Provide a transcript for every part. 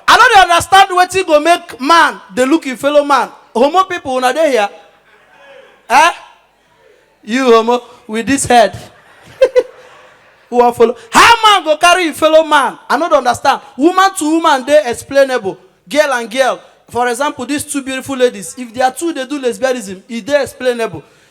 I no dey understand wetin go make man dey look im fellow man. Homo people una dey here? Eh? You homo with this head. Who wan follow? How man go carry im fellow man? I no dey understand. Woman to woman dey explainable. Girl and girl, for example these two beautiful ladies, if their two dey do lesbianism, e dey explainable.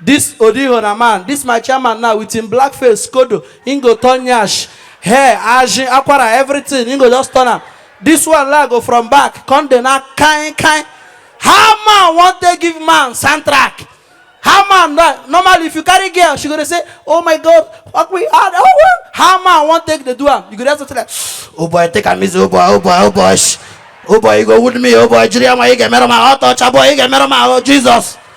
This Odiho na man, this my chairman now with him black face, skodo, him go turn nyash, hair, ajin, akwara, everything, him go just turn am. This one la go from back, come dey na kain kain. How man wan take give man soundtrack? How man na normally if you carry girl, she go dey say, oh my god, fuck me hard, oh well. How man wan take dey do am? You go just say like, oh boy, take am easy, oh boy, oh boy, oh boy, shh. oh boy, you go wound me, oh boy, jiri ama, you get me roma, oh touch, oh boy, you get me roma, oh Jesus.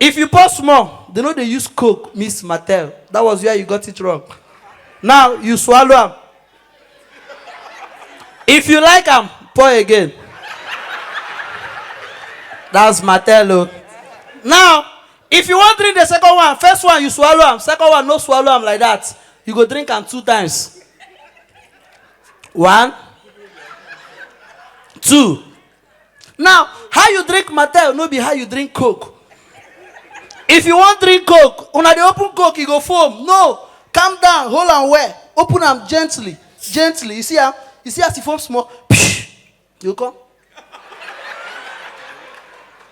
If you pause small, they no dey use coke mix martel, that was where you got it wrong, now you swallow am, if you like am pour again, that's martel o, now if you wan drink the second one, first one you swallow am, second one no swallow am like that, you go drink am two times, one, two. Now, how you drink Mattel no be how you drink Coke. If you wan drink Coke, una dey open Coke, e go foam. No, calm down, hold am well, open am gently, gently. You see am? You see as e foam small? You go come.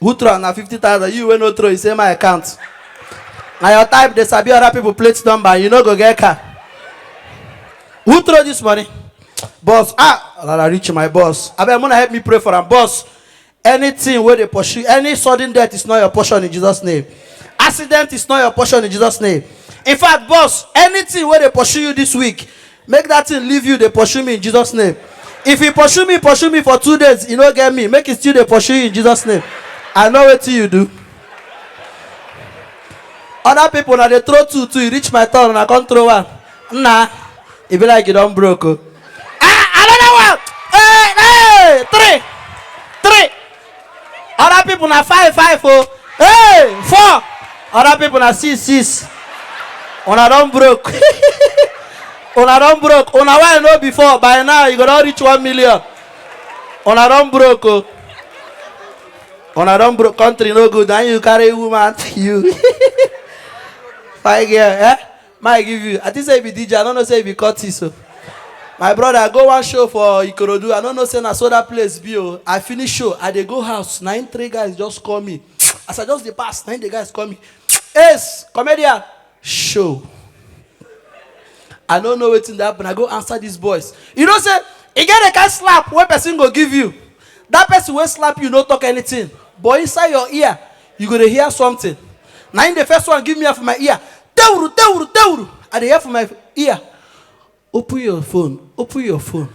who throw am na fifty thousand you wey no throw you say my account na your type dey sabi other people plate number and you no go get car who throw this money boss ah rara reach my boss abeg muna help me pray for am boss anything wey dey pursue any sudden death is not your portion in jesus name accident is not your portion in jesus name in fact boss anything wey dey pursue you this week make dat thing leave you dey pursue me in Jesus name if e pursue me pursue me for two days e no get me make e still dey pursue you in Jesus name I know wetin you do other people na dey throw two two e reach my turn una come throw one nna e be like you don broke o ah another one hey hey three other people na five five o hey four other people na six six una don broke una don broke una wey i know before by now you go don reach one million una don broke o una don broke country no good na you carry woman you fine girl eh. Mike give you. I think say you be DJ. I don't know say you be Curtis. So. My brother, go one show for Ikorodu. I don't know say na so that place be. Oh. I finish show. I dey go house. Na him three guys just call me. As I just dey pass, na him the guys call me. Ace, comedian, show. I don't know wetin dey happen. I go answer these boys. You know say e get a kind slap wey person go give you. That person wey slap you no talk anything. But inside your ear, you go dey hear something na im the first one give me am for my ear tewuru tewuru tewuru i dey hear for my ear open your phone open your phone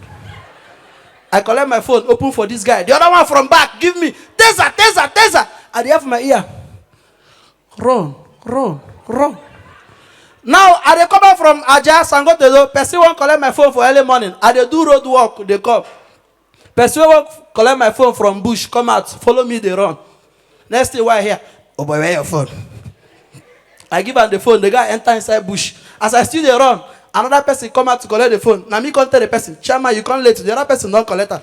i collect my phone open for this guy the other one from back give me taser taser taser i dey hear for my ear run run run now i dey come back from aja sangotedo person wan collect my phone for early morning i dey do road work dey come Person wey wan collect my phone from bush come out follow me dey run next thing wey I hear oh boy where your phone I give am the phone the guy enter inside bush as I still dey run another person come out to collect the phone na me come tell the person chairman you come late the other person don collect am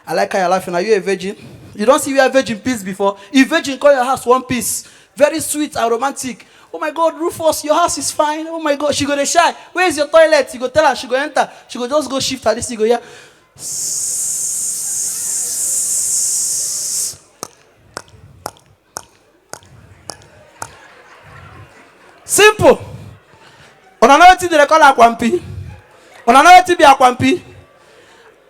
I like how you're laughing are you a virgin you don see where virgin piss before if virgin come your house one piss very sweet and romantic Oh my God, Rufus, your house is fine. Oh my God, she go dey shy. Where is your toilet? You go tell her, she go enter. She go just go shift her this, you go hear. Simple. Una know wetin dem dey call akwampi? Una know wetin be akwampi?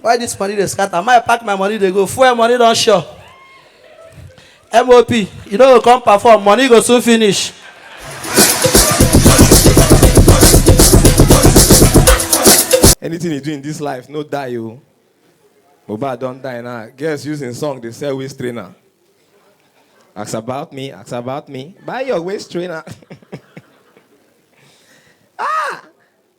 why this money dey scatter my pack my money dey go fuel money don sure mop you no go come perform money go soon finish. Anything you do in this life, no die you. Mohbad don die now. Girls using song dey sell waist trainer. Ask about me, ask about me. Buy your waist trainer.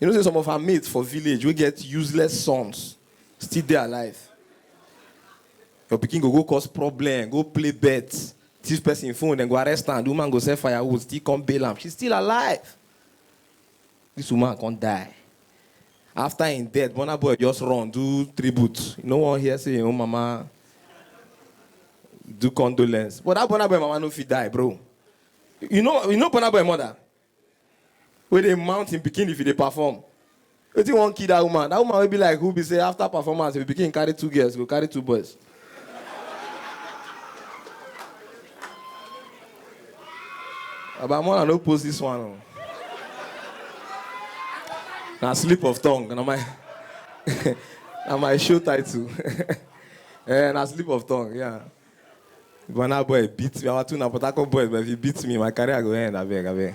You know say some of her mates for village wey get useless sons still dey alive. Your pikin go go cause problem, go play bet, thief person phone, dem go arrest am, the woman go sell firewood still come bail am, she's still alive. This woman come die. After im death, Burna Boy just run do tribute, e no wan hear say im own mama do condolence. But that Burna Boy mama no fit die bro. You know you know Burna Boy mother? wey dey mount him pikin if e dey perform. Wetin wan kill that woman? That woman wey be like who be say after performance if him pikin carry two girls go carry two boys. Baba Mola no post this one o. Na slip of tongue na my na my show title. Eh, na slip of tongue, yeah. Burna boy beat me. Our two na Port Harcourt boys, but if you beat me, my career go end. Abeg, abeg.